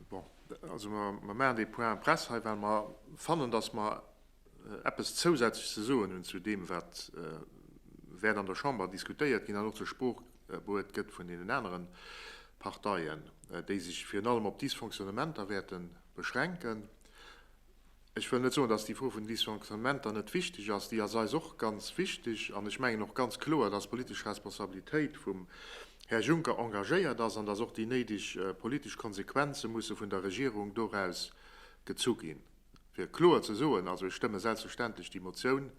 Bon, also mer maachen dee Point presse hei, well mer fannen, dass mer eppes zousätzlech ze soen hunn zu deem, wat wäert an der Chamber diskutéiert ginn an och zur Sprooch bruet gëtt vun deenen aneren Parteien, déi sech virun allem op d'Dysfonctionnementer wäerte beschränken. Ech wëll net soen, dass déi Fro vun den Dysfonctionnementer net wichteg ass, déi ass eis och ganz wichteg. An ech mengen och ganz kloer, dass d'politesch Responsabilitéit vum Här Juncker engagéiert ass an dass och déi néideg politesch Konsequenze musse vun der Regierung doraus gezu ginn, fir kloer ze soen. Also ech stëmme selbstverständlech déi Motioun,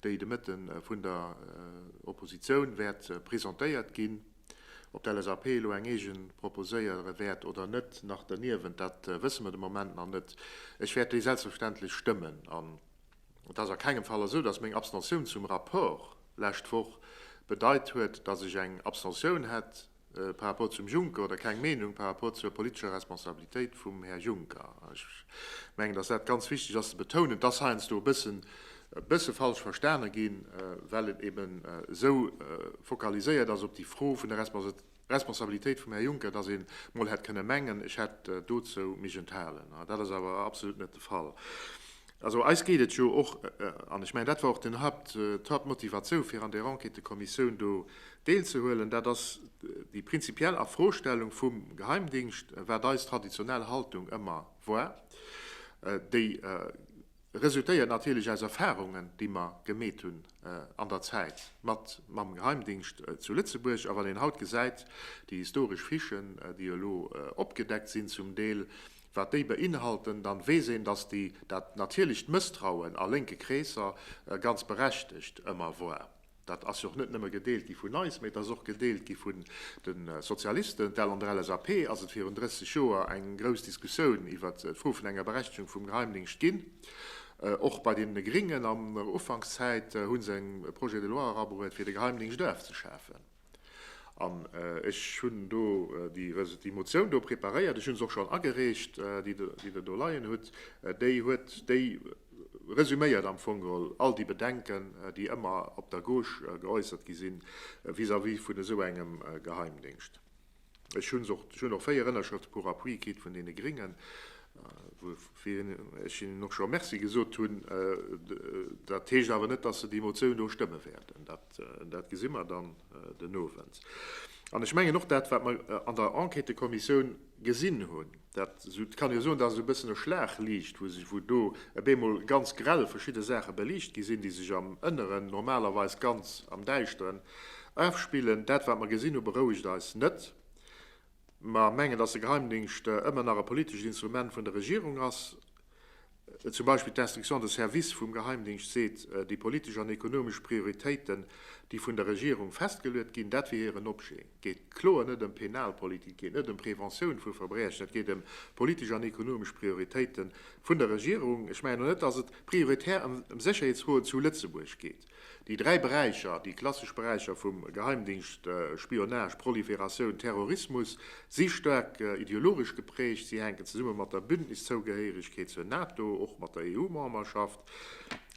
déi de Mëtte vun der Oppositioun wäert presentéiert ginn, Ob d'LSAP elo eng eegen proposéiere wäert oder net nach derniewent, dat wësse mer de Moment nach net. Ech wäert déi selbstverständlech stëmmen. An et ass a kengem Fall esou, dass meng Abstention zum Rapport lescht Woch bedeit huet, dass ech eng Abstention hätt par rapport zum Juncker oder keng Meenung par rapport zur politescher Responsabilitéit vum Här Juncker. Ech mengen, dass dat ganz wichteg ass ze betounen. Et ass heiansdo e bëssen e bësse falsch verstane ginn, well et eben esou fokaliséiert ass op déi Fro vun der Responsabilitéit vum Här Juncker, dass een emol hätt kënne mengen, ech hätt dozou mech enthalen. Dat ass awer absolut net de Fall. Also eis geet et jo och, an ech mengen, dat war och den Haupt, d'Hauptmotivatioun, fir an där Enquêtëkommissioun do deelzehuelen, dat ass déi prinzipiell Erfrostellung vum Geheimdingscht, wat eis traditionell Haltung ëmmer war, déi, Resultéiert natierlech aus Erfahrungen, déi mer gemeet hunn an der Zäit mat mam Geheimdingscht zu Lëtzebuerg. A wann een haut gesäit, déi historesch Fichen, déi elo opgedeckt sinn zum Deel, wat déi beinhalten, dann weess een, dass déi dat natierlecht Mësstrauen a lénke Kreesser ganz berechtegt ëmmer war. Dat ass jo och net nëmme gedeelt gi vun eis, mee et ass och gedeelt gi vun de Sozialisten, well an der LSAP ass et virun 30 Joer eng grouss Diskussioun iwwert d'Fro vun enger Berechtigung vum Geheimdingscht ginn. Och bei deene Gringen an der Ufankszäit hu se e Projet de loi erabruet, fir de Geheimdingscht ofzeschafen. An ech hunn do déi Motioun do preparéiert, ech hu se och schonn agereecht, déi Der do leien hutt, déi huet déi. resuméiert am Fong geholl all déi Bedenken, déi ëmmer op der Gauche geäussert gi sinn vis-à-vis vun esou engem Geheimdéngscht. Ech hunn och, ech hunn och véier Ënnerschrëfte pour appui kritt vun deene Gréngen, woufir ech hinnen och scho Merci gesot hunn. Dat heescht awer net, dass se déi Motioun do stëmme wäerten. Dat gesi mer dann den Owend. An ech mengen och dat, wat mer an der Enquêtekommissioun gesinn hunn, Dat kann ee soen, dat ass e bëssen e Schlagliicht, wou do op eemol ganz grell verschidde Saache beliicht gi sinn, déi sech am Ënneren, normalerweis ganz am Däischteren, afspillen. Dat, wat mer gesinn hu, berouegt eis net. Mer mengen, datt de Geheimdingscht ëmmer nach e politescht Instrument vun der Regierung ass. Zum Beispill d'Instruction de service vum Geheimdingscht seet, déi politesch an ekonomesch Prioritéiten, déi vun der Regierung festgeluet ginn, dat wier hiren Objet. Et geet kloer net ëm Penalpolitik, et geet net ëm Preventioun vu Verbriechen, et geet ëm politesch an ekonomesch Prioritéite vun der Regierung. Ech mengen och net, datt et prioritär ëm Sécherheetsfroen zu Lëtzebuerg geet. Déi dräi Beräicher, déi klassesch Beräicher vum Geheimdingscht, Spionage, Proliferatioun, Terrorismus, si staark ideologesch geprägt. Si hänken zesumme mat der Bündniszougehéieregkeet zur NATO, och mat der EU-Memberschaft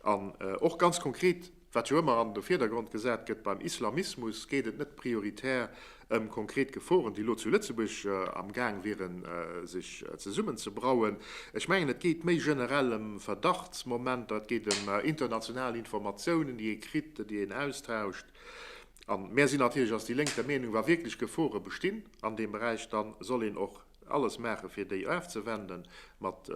an och ganz konkret, wat jo ëmmer an de Virdergrond gesat gëtt, beim Islamismus geet et net prioritär ëm konkret Geforen, déi elo zu Lëtzebuerg am Gaang wieren, sech zesummen ze brauen. Ech mengen, et geet méi generell ëm Verdachtsmomenter, et geet ëm international Informatiounen, déi ee kritt, déi een austauscht. A mär sinn natierlech als déi Lénk der Meenung, wa wierklech Gefore bestinn an deem Beräich, da soll een och alles maache fir déi ofzewenden, mat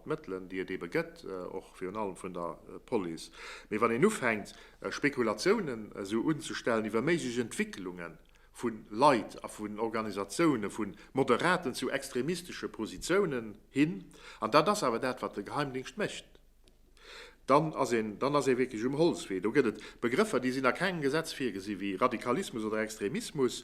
Mëttelen, déi et eebe gëtt, och virun allem vun der Police. Mee wann een ufänkt, Spekulatiounen esou unzestellen iwwer méiglech Entwécklunge vu Leit a vun Organisatiounen, vu moderaten zu extremistesche Positiounen hin, an dat ass awer dat, wat de Geheimdingscht mécht, dann ass een, dann ass ee wierklech um Holzwee. Do gëtt et Begrëffer, déi sinn a kengem Gesetz virgesi wéi Radikalismus oder Extremismus.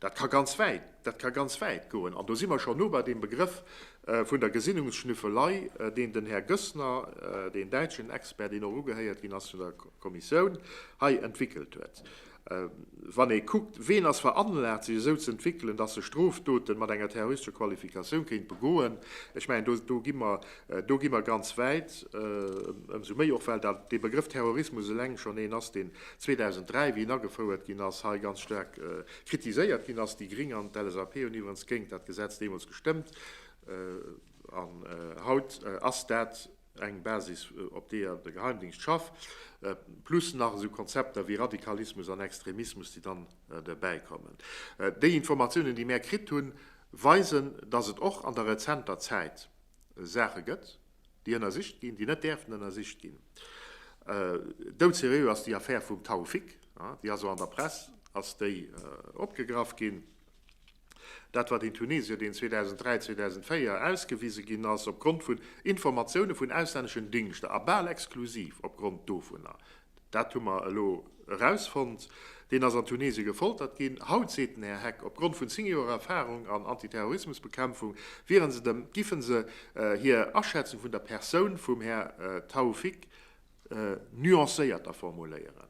Dat ka ganz wäit, dat ka ganz wäit goen. An do si mer scho no bei deem Begrëff vun der Gesinnungsschnüffelei, deen den Här Goessner, deen däitschen Expert, deen och ugehéiert ginn ass vun der Kommissioun, hei entwickelt huet. Wann ee kuckt, wien ass veranlagt, sech esou ze entwickeln, dass e Strofdote mat enger terroristescher Qualifikatioun kéint begoen, ech mengen, do gi mer Do gi mer ganz wäit, ëmsou méi och, well dee Begrëff Terrorismus eleng schonn een ass, deen 2003, wéi en agefouert ginn ass, hei ganz staark kritiséiert ginn ass. Déi Gring an d'LSAP hunn iwwerens géint dat Gesetz deemools gestëmmt. An haut ass dat eng Basis, op deeër de Geheimdingscht schafft, plus nach esou Konzepter wéi Radikalismus an Extremismus, déi dann derbäi kommen. Déi Informatiounen, déi mär kritt hunn, weisen, dass et och an der rezenter Zäit, Saache gëtt, déi ënnersicht ginn, déi net däerfen ënnersicht ginn. Doudseriö ass déi Affär vum Tawfik, déi ass och an der Press ass déi opgegraff ginn. Dat war deen Tunesier, deen 2003, 2004 ausgewise ginn ass opgrond vun Informatioune vun auslänneschen Dingschter a bal exklusiv opgrond dovunner. Dat hu mer elo erausfonnt. Deen ass an Tunesien gefoltert ginn. Haut seet den Här Heck, opgrond vun 10 Joer Erfahrung an Antiterrorismusbekämpfung wieren se dem, giffen se hir Aschätzung vun der Persoun vum Här Taoufik nuancéierter formuléieren.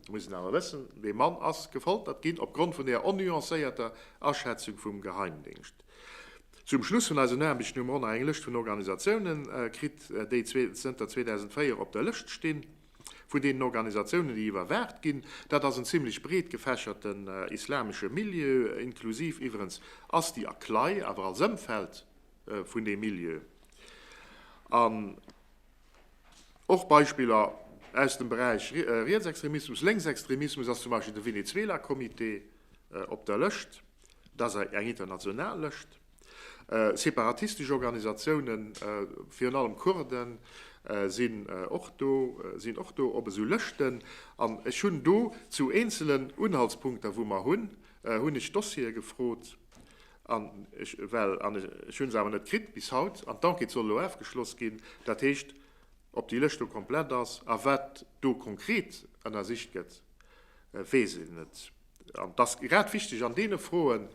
Mir mussen awer wëssen, dee Mann ass gefoltert ginn, opgrond vun der onnuancéierter Aschätzung vum Geheimdéngscht. Zum Schluss vun eisen Aarbechten hu mer och nach eng Lëscht vun Organisatiounen kritt, déi zënter 2004 op der Lëscht stinn vun deenen Organisatiounen, déi iwwerwaacht ginn. Dat ass en zimlech breet gefächerten islamesche Milieu, inklusiv iwwerens Asti a CLAI, awer als Ëmfeld vun deem Milieu. An och Beispiller aus dem Beräich Rietsextremismus, Lénksextremismus ass zum Beispill de Venezuela-Comité op der Lëscht. dass eng international Lëscht separatistesch Organisatiounen, virun allem Kurden, sinn och do, sinn och do op esou Lëschten. An ech hunn do zu eenzelen Unhaltspunkter, wou mer hunn, hunn ech Dossiere gefrot, an ech well, an ech hu se awer net kritt bis haut, an d'Enquête soll elo afgeschloss ginn, dat heescht, ob déi Lëscht do komplett ass a wat do konkret ënnersicht gëtt, weess een net. An et ass grad wichteg an deene Froen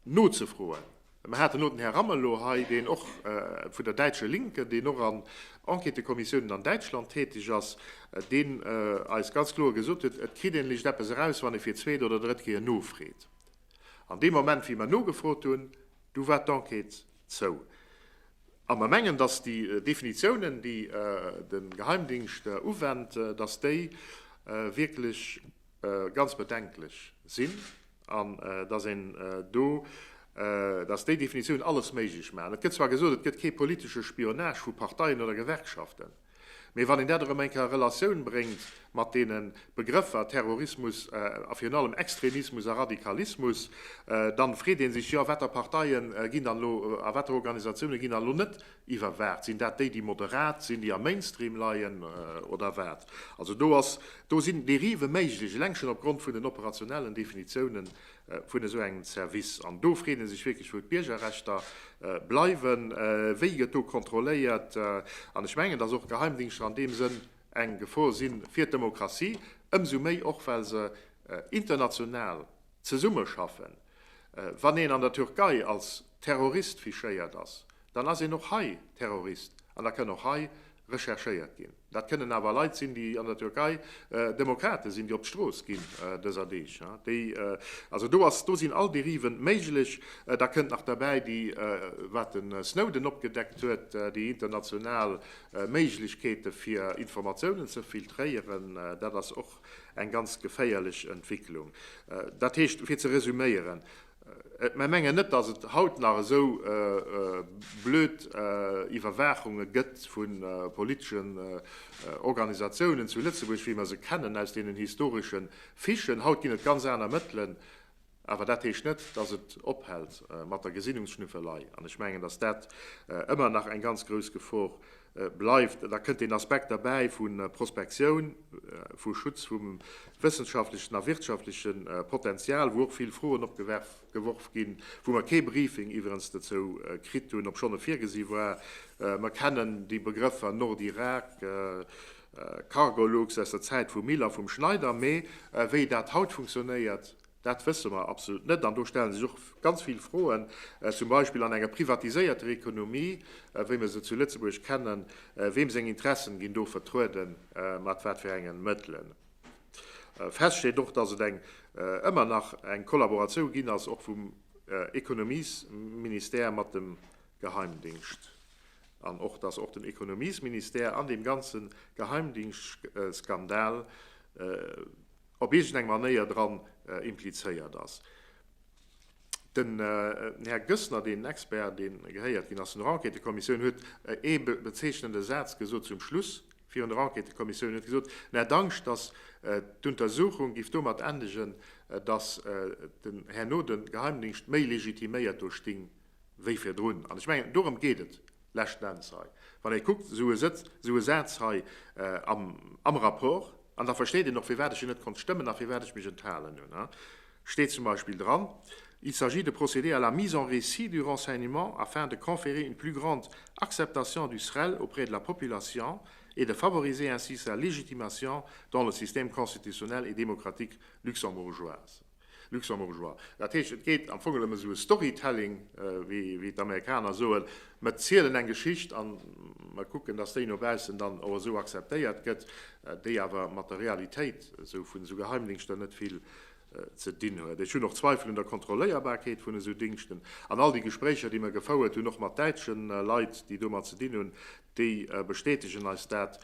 nozefroen. Mer haten elo den Här Amelot hei, deen och vun der däitsche Linken, deen och an Enquêtëkommissiounen an Däitschland täteg ass, deen eis ganz kloer gesot huet, et kritt een lech eppes eraus, wann ee fir d'zweet oder drëtt Kéier nofreet. An dee Moment wéi mer nogefrot hunn, du war d'Enquête zou. A mer mengen, datt déi Definitiounen, déi de Geheimdingscht uwennt, datt déi wierklech, ganz bedenklech sinn an dass een do, dass déi Definitiounen alles méiglech maachen. Et gëtt zwar gesot, et gëtt kee politesche Spionage vu Parteien oder Gewerkschaften, mee wann een dat erëm eng Kéier a Relatioun bréngt mat deene Begrëffer Terrorismus a virun allem Extremismus a Radikalismus, da freet ee sech, jo, watter Parteie ginn dann elo a watter Organisatiounen ginn dann elo net Iwwerwaacht? Sinn dat déi, déi moderat sinn, déi am Mainstream leien, oder wat? Also do ass, do sinn Dérive méiglech, eleng schonn opgrond vun den operationellen Definitiounen vun esou engem Service. An do freet ee sech wierklech, wou d'Biergerrechter bleiwen, wéi gëtt do kontrolléiert? An ech mengen, dass och Geheimdingschter an deem Sënn eng Gefor sinn fir d'Demokratie, ëmsou méi och, well se international zesummeschaffen. Wann een an der Türkei als Terrorist fichéiert ass, dann ass een och hei Terrorist an da kënn och hei recherchéiert ginn. Dat kënnen awer Leit sinn, déi an der Türkei Demokrate sinn, déi op d'Strooss ginn dëser Deeg, déi, also do ass, do sinn all Dériven méiglech. Da kënnt nach derbäi déi, wat de Snowden opgedeckt huet, déi international Méiglechkeete fir Informatiounen ze filtréieren. Dat ass och eng ganz geféierlech Entwicklung. Dat heescht, fir ze resuméieren, Mer mengen net, dass et haut nach esou blöd Iwwerwaachunge gëtt vu politeschen Organisatiounen zu Lëtzebuerg, wéi mer se kennen aus deenen historesche Fichen. Haut ginn et ganz aner Mëttelen. Awer dat heescht net, dass et ophält mat der Gesinnungsschnüffelei. An ech mengen, dass dat ëmmer nach eng ganz grouss Gefor bleift, da kënnt deen Aspekt derbäi vu Prospektioun, vu Schutz vum wëssenschaftlechen a wirtschaftleche Potenzial, wou och vill Froen opgeworf ginn, wou mer kee Briefing iwwerens dozou kritt hunn, obschonn e virgesi war. Mer kennen déi Begrëffer Nordirak, Cargolux aus der Zäit vum Mill a vum Schneider, mee wéi dat haut funktionéiert, Dat wësse mer absolut net. An do stellen sech och ganz vill Froen, zum Beispill an enger privatiséierter Ekonomie, wéi mer se zu Lëtzebuerg kennen, Weem seng Interessen ginn do vertruede, mat wat fir engen Mëttelen? Fest steet och, dass et eng ëmmer nach eng Kollaboratioun ginn ass, och vum Ekonomiesministère mat dem Geheimdingscht, an och dass och den Ekonomiesministère an deem ganze Geheimdingschtskandal, op iergendeng Manéier dran implizéiert ass. Den Här Goessner, deen Expert, dee gehéiert ginn ass zu der Enquêtëkommissioun, huet ee bezeechnende Saz gesot zum Schluss virun der Enquêtëkommissioun. Hien huet gesot, en hätt Angscht, datt d'Untersuchung giff domat endegen, datt den Här Noden Geheimdingscht méi legitiméiert do sting wéi virdrun. An ech mengen, dorëm geet et leschten Enns hei. Wann ee kuckt, esou e Sëtz, esou e Saz hei am Rapport, an da versteet een och, firwat ech en net konnt stëmmen a firwat ech mech enthalen hunn, da steet zum Beispill dran, Il s'agit de procéder à la mise en récit du renseignement afin de conférer une plus grande acceptation du SREL auprès de la population et de favoriser ainsi sa légitimation dans le système constitutionnel et démocratique luxembourgeoise. Luxembourgeois. Dat heescht, et gétt am Fong elem esou e Storytelling, wéi d'Amerikaner soen, mer zielen eng Geschicht an mer kucken, dass déi no baussen dann och esou akzeptéiert gëtt, déi awer mat der Realitéit esou vun esou Geheimdingschter net vill ze dinn huet. Ech hunn och Zweifel un der Kontrolléierbarkeet vun esou Dingschten. An all déi Gespréicher, déi mer gefouert hunn, och mat däitschen Leit, déi domat ze dinn hunn, Déi bestätegen eis dat,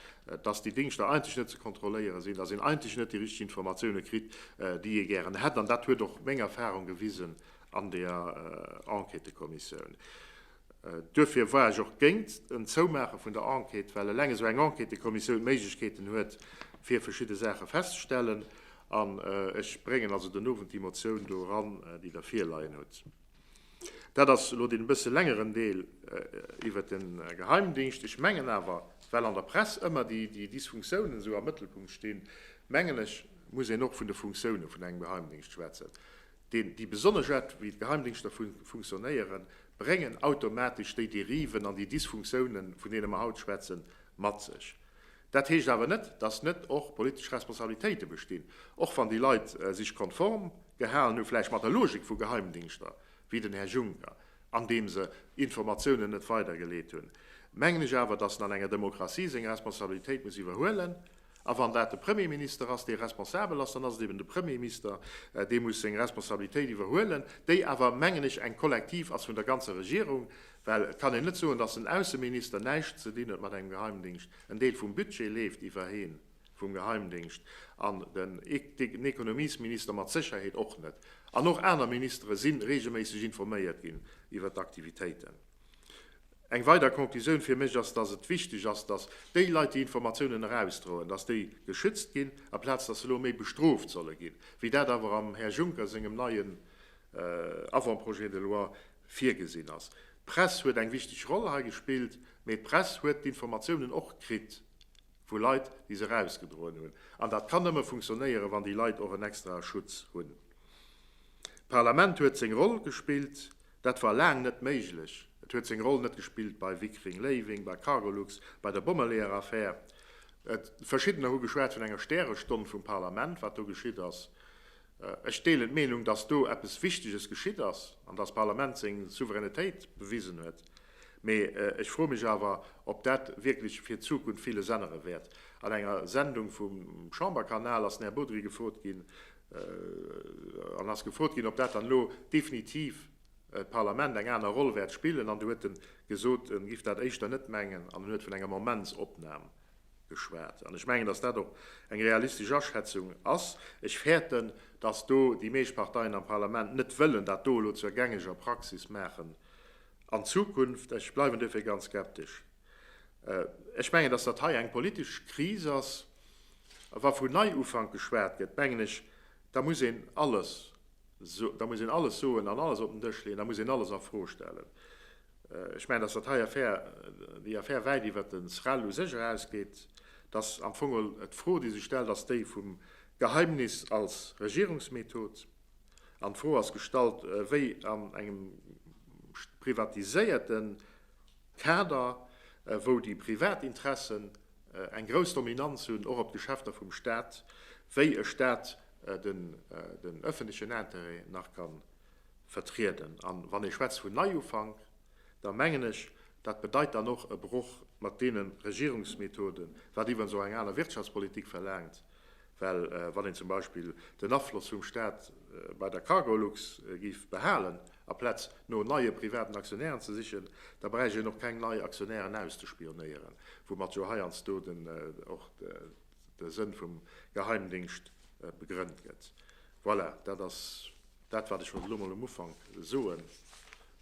dass déi Dingschter eigentlech net ze kontrolléiere sinn, dass een eigentlech net déi richteg Informatioune kritt, déi ee gären hätt. An dat huet och meng Erfarung gewisen an där Enquêtëkommissioun. Duerfir war ech och géint en Zoumaache vun der Enquête, well eleng esou eng Enquêtëkommissioun Méiglechkeeten huet, fir verschidde Saache festzestellen. An ech bréngen also den Owend déi Motioun do eran, déi Der virleien hutt. Dat ass elo deen e bësse längeren Deel iwwert de Geheimdingscht. Ech mengen awer, well an der Press ëmmer déi Dysfunktiounen esou am Mëttelpunkt stinn, mengen ech, muss een och vun de Funktiounen vun engem Geheimdingscht schwätzen, deen déi besonnesch Aart, wéi d'Geheimdingschter funktionéieren, bréngen automatesch déi Dériven an déi Dysfunktiounen, vun deene mer haut schwätzen, mat sech. Dat heescht awer net, dass net och politesch Responsabilitéite bestinn, och wann déi Leit sich konform gehalen hu vläicht mat der Logik vu Geheimdingschter, wéi den Här Juncker, andeem se Informatiounen net weidergeleet hunn, mengen ech awer, dass en an enger Demokratie seng Responsabilitéit muss iwwerhuelen. A wann dat de Premierminister ass, dee responsabel ass, dann ass et eben de Premiermister, dee muss seng Responsabilitéit iwwerhuelen, déi awer, mengen ech, eng kollektiv ass vun der ganzer Regierung. Well et kann een net soen, datt den Ausseminister näischt ze dinn huet mat engem Geheimdingscht, en Deel vum Budget leeft iwwerheen vum Geheimdingscht an den Ekonomiesminister mat Sécherheet och net an och aner Ministere si reegelméisseg informéiert ginn iwwer d'Aktivitéiten. Eng weider Conclusioun fir mech ass, datt et wichteg ass, datt déi Leit déi Informatiounen erausdroen, datt déi geschützt ginn, aplaz datt se elo méi bestrooft solle ginn, wéi dat awer am Här Juncker sengem neien Avant-projet de loi virgesinn ass. D'Press huet eng wichteg Roll hei gespillt, mee d'Press huet d'Informatiounen och kritt vu Leit, déi se erausgedroen hunn. An dat kann nëmme funktionéieren, wann déi Leit och en extrae Schutz hunn. D'Parlament huet seng Roll gespillt. Dat war laang net méiglech. Et huet seng Roll net gespillt bei Wickring-Léiwing, bei Cargolux, bei der Bommeleeër-Affär. Verschiddener hu geschwat vun enger Stärestonn vum Parlament, wat do geschitt ass. Ech deelen d'Meenung, dass do eppes Wichteges geschitt ass an dass d'Parlament seng Souveränitéit bewisen huet. Mee ech froe mech awer, ob dat wierklech fir d'Zukunft villes ännere wäert. An enger Sendung vum Chamberkanal ass den Här Bodry gefrot ginn an ass gefrot ginn, ob dat dann elo definitiv d'Parlament eng aner Roll wäert spillen an do huet en gesot, en giff dat éischter net mengen an en huet vun enger Momentsopnam geschwat. An ech mengen, dass dat och eng realistesch Aschätzung ass. Ech fäerten, dass do déi meescht Parteien am Parlament net wëllen dat do elo zur gängeger Praxis maachen an Zukunft. Ech bleiwen duerfir ganz skeptesch. Ech mengen, dass dat hei eng politesch Kris ass. A wa vun Neiufank geschwat gëtt, mengen ech, da muss een alles, da muss een alles soen an alles op den Dësch leeën, da muss een alles a Fro stellen. Ech mengen, dass dat hei Affär, déi Affär wäit iwwert de SREL u sech erausgeet, dass am Fong och d'Fro, déi sech stellt, ass déi vum Geheimnis als Regierungsmethod. An d'Fro ass gestallt, wéi an engem privatiséierte Kader, wou déi privat Interessen eng grouss Dominanz hunn, och op d'Geschäfter vum Stat, wéi e Stat den öffentlichen Intérêt nach kann vertrieden. An wann ee schwätzt vun Neiufank, da mengen ech, dat bedeit dann och e Broch mat deene Regierungsmethoden, wat iwwerens och eng aner Wirtschaftspolitik verlaangt, well wann een zum Beispill den Afloss vum Stat bei der Cargolux géif behalen, aplaz no neie privaten Aktionären ze sichen, da bräicht een och keng nei Aktionären auszespionéieren, woumat jo heiansdo och de Sënn vum Geheimdéngscht begrënnt gëtt. Voilà, dat ass dat, wat ech wollt elo mol um Ufank soen.